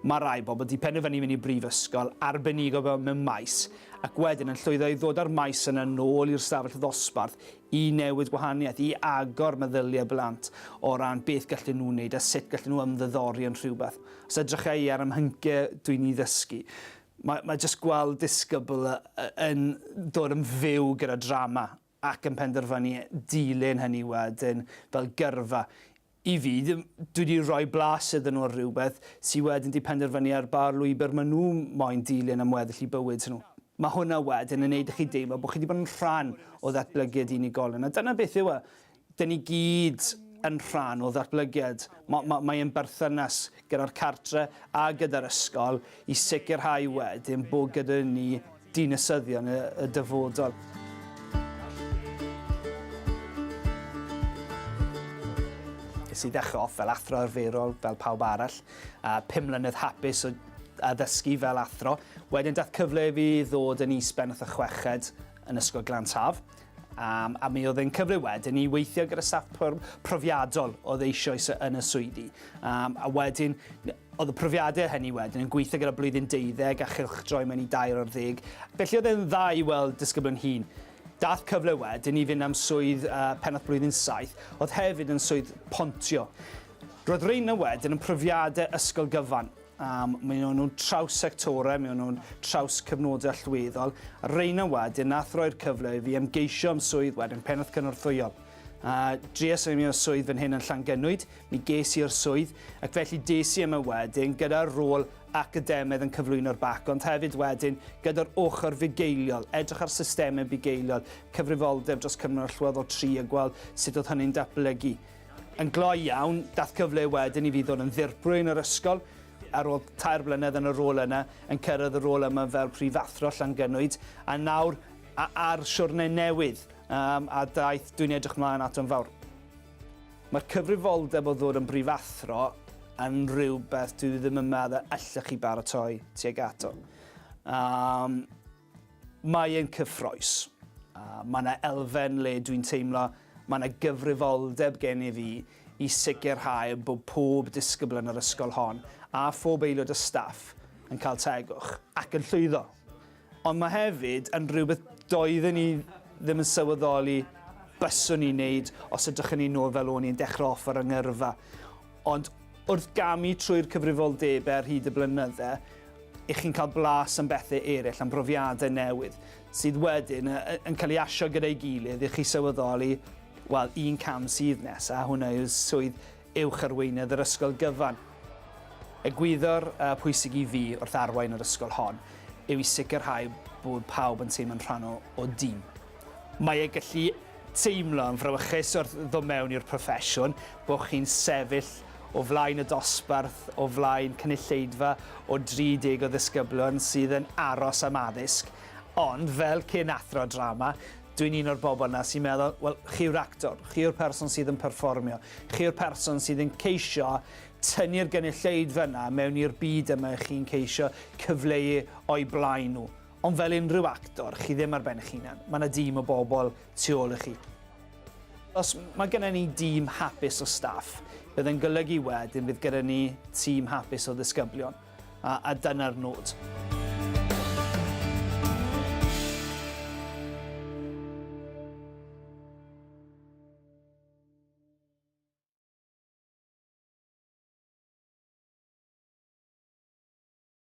Mae rhai bobl wedi penderfynu mynd i brifysgol arbenigo mewn maes ac wedyn yn llwyddo i ddod â'r maes yna nôl i'r stafell ddosbarth i newid gwahaniaeth, i agor meddyliau blant o ran beth gallen nhw wneud a sut gallen nhw ymddiddori yn rhywbeth. Os edrycha i ar 'y mhyncie dwi'n 'u ddysgu. Mae, mae jyst gweld disgybl y, y, yn dod yn fyw gyda drama ac yn penderfynu dilyn hynny wedyn fel gyrfa. I fi, dwi wedi rhoi blas iddyn nhw ar rhywbeth sydd wedyn wedi penderfynu ar ba'r lwybr maen nhw moyn dilyn am weddill i bywyd nhw. Mae hwnna wedyn yn neud i chi deimlo bod chi wedi bod yn rhan o ddatblygiad unigolion a dyna beth yw e. Dyn ni gyd yn rhan o ddatblygiad. Ma, ma, mae ein berthynas gyda'r cartre a gyda'r ysgol i sicrhau wedyn bod gyda ni dinasyddion y, y dyfodol. Nes i ddechrau off fel athro arferol, fel pawb arall, a pum mlynedd hapus o addysgu fel athro. Wedyn dath cyfle i fi ddod yn is-bennaeth y chweched yn Ysgol Glantaf, Um, a mi oedd yn cyfrif wedyn i weithio gyda staff profiadol oedd eisoes yn y swyddi. Um, a wedyn, oedd y profiadau hynny wedyn yn gweithio gyda blwyddyn deuddeg a chylch droi mewn i dair o'r ddeg. Felly oedd e'n dda i weld disgybl yn hun. Dath cyfle wedyn i fynd am swydd uh, pennaeth blwyddyn saith, oedd hefyd yn swydd pontio. Roedd Reina wedyn yn profiadau ysgol gyfan, Um, mae nhw'n traws sectorau, mae nhw'n traws cyfnodau allweddol. A reina wedyn, nath roi'r cyfle i fi ymgeisio am swydd wedyn, pennaeth cynorthwyol. A dries i mi o swydd fan hyn yn Llangenwyd, mi ges i'r swydd, ac felly des i yma wedyn gyda'r rôl academaidd yn cyflwyno'r bac, ond hefyd wedyn gyda'r ochr fugeiliol, edrych ar systemau bugeiliol, cyfrifoldeb dros cyfnod allweddol tri a gweld sut oedd hynny'n datblygu. Yn gloi iawn, daeth cyfle wedyn i fi ddod yn ddirprwy yn yr ysgol, ar ôl tair blynedd yn y rôl yna, yn cyrraedd y rôl yma fel Prifathro Llangynwyd, a nawr a, ar siwrne newydd, um, a daeth dwi'n edrych mlaen ato'n fawr. Mae'r cyfrifoldeb o ddod yn brifathro yn rhywbeth dwi ddim yn meddwl allech chi baratoi tuag ato. Um, Mae e'n cyffrous. A mae 'na elfen le dwi'n teimlo mae 'na gyfrifoldeb gen i fi i sicrhau bod pob disgybl yn yr ysgol hon, a phob aelod o staff, yn cael tegwch. Ac yn llwyddo. Ond mae hefyd yn rhywbeth doedden i ddim yn sylweddoli byswn i'n neud os edrychwn i nôl fel o'n i'n dechrau off ar 'y ngyrfa. Ond wrth gamu trwy'r cyfrifoldebau ar hyd y blynydde, i chi'n cael blas am bethau eraill, am brofiadau newydd, sydd wedyn yn cael ei asio gyda'i gilydd i chi sylweddoli, wel, un cam sydd nesaf, hwnna yw swydd uwch arweinydd yr ysgol gyfan. Egwyddor uh, pwysig i fi wrth arwain yr ysgol hon yw i sicrhau bod pawb yn teimlo'n rhan o, o dîm. Mae e gallu teimlo yn frawychus wrth ddod mewn i'r proffesiwn, bod chi'n sefyll o flaen y dosbarth, o flaen cynulleidfa o 30 o ddisgyblion sydd yn aros am addysg, ond fel cyn athro drama, dwi'n un o'r bobl 'na sy'n meddwl, wel, chi yw'r actor, chi yw'r person sydd yn perfformio, chi yw'r person sydd yn ceisio tynnu'r gynulleidfa 'na mewn i'r byd yma chi'n ceisio cyfleu o'i blaen nhw. Ond fel unrhyw actor, chi ddim ar ben eich hunan. Mae yna dîm o bobl tu ôl i chi. Os mae gennym ni dîm hapus o staff, bydd yn golygu wedyn bydd gyda ni tîm hapus o ddisgyblion, a, a dyna'r nod.